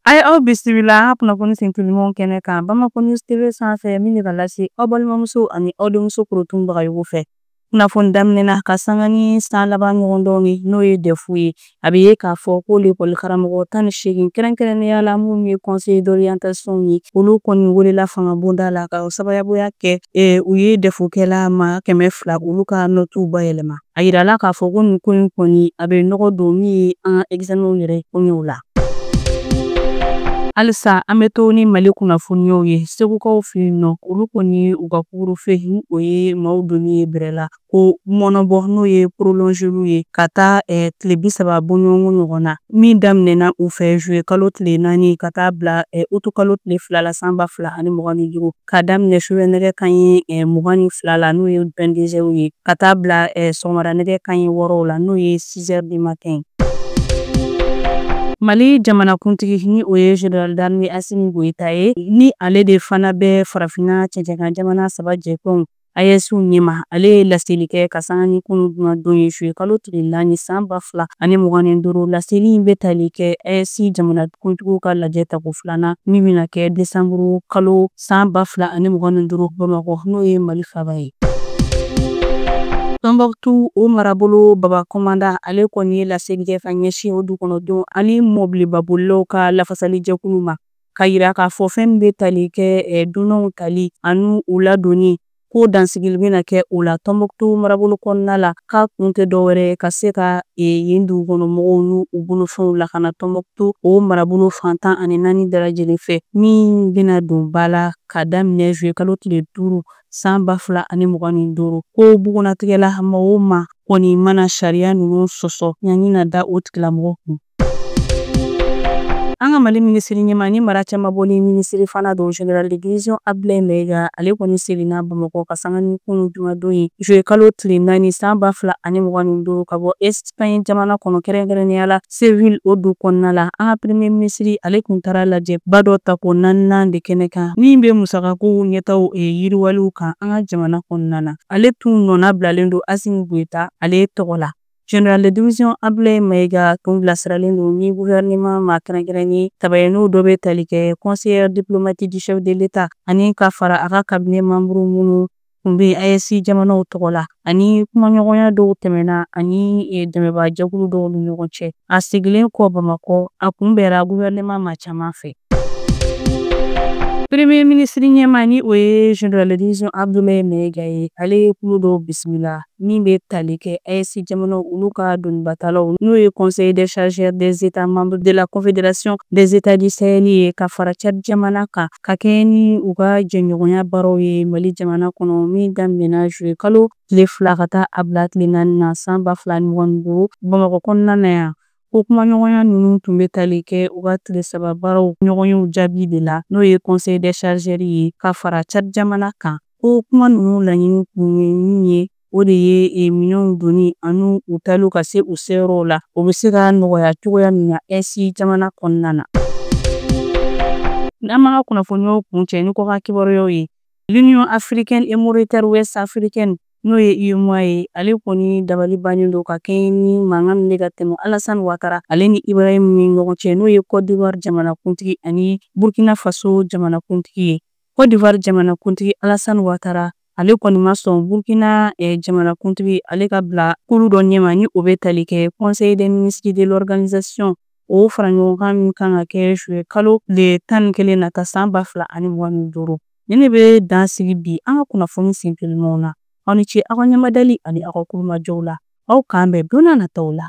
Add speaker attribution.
Speaker 1: A ye aw bisimila an ka kunnafoni sentelimanw kɛnɛ kan Bamakɔ News TV sanfɛ min bɛ ka lase aw balimamuso ani aw denmuso Korotumu Bagayogo fɛ. Kunnafoni daminɛna ka sanga ni san laban ɲɔgɔndan ye n'o ye dɛfu ye. A bɛ ye k'a fɔ ko lekɔli karamɔgɔ tan ni seegin kɛrɛnkɛrɛnnenya la minnu ye conseiller d'orientation ye, olu kɔni welela fangabonda la ka sababuya kɛ u ye dɛfukɛla maa kɛmɛ fila olu ka nɔtuw bayɛlɛma. A yirala k'a fɔ ko nin ko in kɔni a bɛ nɔgɔ don min ye an ka examen yɛrɛ koɲɛw la. Halisa an bɛ to ni Mali kunnafoniyaw ye Segukaw fɛ yen nɔ, olu kɔni u ka couvre-feu ni o ye maaw donni ye bɛrɛ la k'o mɔɔnɔbɔ n'o ye porolɔnzeli ye ka taa eh, tile bi saba bɔɲɔgɔnko ɲɔgɔn na min daminɛna u fɛ zuye kalo tile naani ka taa bila eh, utu kalo tile fila la san ba fila ani mugan ni duuru. ka daminɛ sufɛ nɛgɛ kanɲɛ eh, mugan ni fila la n'o ye vingt-deux heures ye ka taa bila eh, sɔgɔmada nɛgɛ kanɲɛ wɔɔrɔ la n'o ye six heures du matin. Mali jamanakuntigi ni o ye Général d'armée Assimi Goita ye ni ale de fana bɛ farafina cɛncɛnkan jamana saba jɛtɔn AES ɲɛmaa, ale ye laseli kɛ ka sanga ni kunu jumadon ye zuye kalo tile naani san ba fila ani mugan ni duuru. Laseli in bɛ tali kɛ AES jamanakuntigiw ka lajɛ tako filanan min bɛna kɛ desanburu kalo san ba fila ani mugan ni duuru Bamakɔ, n'o ye Mali faaba ye. Tɔnbɔkutu, o marabolo baba kɔmandan, ale kɔni ye laseli kɛ ka ɲɛsin o dukɔnɔdenw ani mɔbilibabolilaw ka lafasalijɛkulu ma. k'a yira k'a fɔ fɛn min bɛ tali kɛ dunanw tali ani u ladonni ko dansigili bɛna kɛ o la tɔnbɔkutu marabolo kɔnɔna la k'a kun tɛ dɔwɛrɛ ye ka se ka yen dugu kɔnɔ mɔgɔw n'u bolofɛnw lakana tɔnbɔkutu o marabolo fan tan ani naani bɛɛ lajɛlen fɛ min bɛna don ba la ka daminɛ zuye kalo tile duuru san ba fila ani mugan ni duuru ko bugunnatigɛ la maa o maa kɔni mana sariya ninnu sɔsɔ ɲangi na da o tigilamɔgɔ kun An ka Mali minisiri ɲɛmaa ni mara cɛmabɔli minisiri fana don Général de division Abdulaye Mayiga, ale kɔni seginna Bamakɔ ka sanga ni kunu jumadon ye zuye kalo tile naani san ba fila ani mugan ni duuru ka bɔ Espagne jamana kɔnɔ kɛrɛnkɛrɛnnenya la Séville o du kɔnɔna la. An ka Premier minisiri ale tun taara lajɛba dɔ tako naaninan de kɛnɛ kan min bɛ musakakow ɲɛtaaw yiriwaliw kan an ka jamana kɔnɔna na. Ale tun nɔnabilalen don Assimi Goita ale tɔgɔ la. Général de division Abdoulaye Mayiga tun bilasiralen don ni gouvernement maa kɛrɛnkɛrɛnnen saba ye n'o dɔ bɛ tali kɛ conseiller diplomatique du chef de l'État ani ka fara a ka cabinet membre minnu tun bɛ AES jamanaw tɔgɔ la ani kumaɲɔgɔnya dɔw tɛmɛna ani e, dɛmɛbaa jɛkulu dɔw ni ɲɔgɔn cɛ a seginnen kɔ Bamakɔ a kunbɛra gouvernement maa caman fɛ. Premier ministre ɲɛmaa ni o ye Général de division Abdoulaye Mayiga ye ale ye kulu dɔw bisimila min bɛ tali kɛ AES jamanaw olu ka donibatalaw n'o ye Conseil des chargeurs des États membres de la Confédération des États du Sahel ye ka fara Tchad jamana kan ka kɛɲɛ ni u ka jɛɲɔgɔnya baaraw ye Mali jamana kɔnɔ min daminɛna juillet kalo tile fila ka taa a bila tile naani na san ba fila ni mugan ni duuru Bamakɔ kɔnɔna na yan. Ko kumaɲɔgɔnya ninnu tun bɛ tali kɛ u ka tile saba baaraw ɲɔgɔnyew jaabi de la n'o ye Conseil des chargeurs ye ka fara Tchad jamana kan. ko kuma ninnu laɲini kun ye min ye o de ye e, minɛnw donni ani u tali ka se u seyɔrɔw la o bɛ se ka nɔgɔya cogoya min na AES jamana kɔnɔna na n'an b'an ka kunnafoniyaw kuncɛ ni kɔkan kibaruyaw ye l'union africaine et monétaire ouest africaine n'o ye UEMOA ye ale kɔni dabali bannen don ka kɛɲɛ ni mankan min bɛ ka tɛmɛ Alassane Ouattara ale ni Ibrahim ni ɲɔgɔn cɛ n'o ye Côte d'Ivoire jamanakuntigi ani Burkina Faso jamanakuntigi ye. Côte d'Ivoire jamanakuntigi Alassane Ouattara ale kɔni ma sɔn Burkina eh, jamanakuntigi ale ka bila kulu dɔ ɲɛma ni o bɛ tali kɛ Conseil des ministres de l'organisation o faraɲɔgɔnkan min kan ka kɛ juillet kalo tile tan ni kelen nata san ba fila ani mugan ni duuru nin de bɛ dan sigi bi an ka kunnafoni sentelimanw na aw ni ce aw ka ɲɛmadali ani aw ka tulomajɔw la aw k'an bɛn don n'a nataw la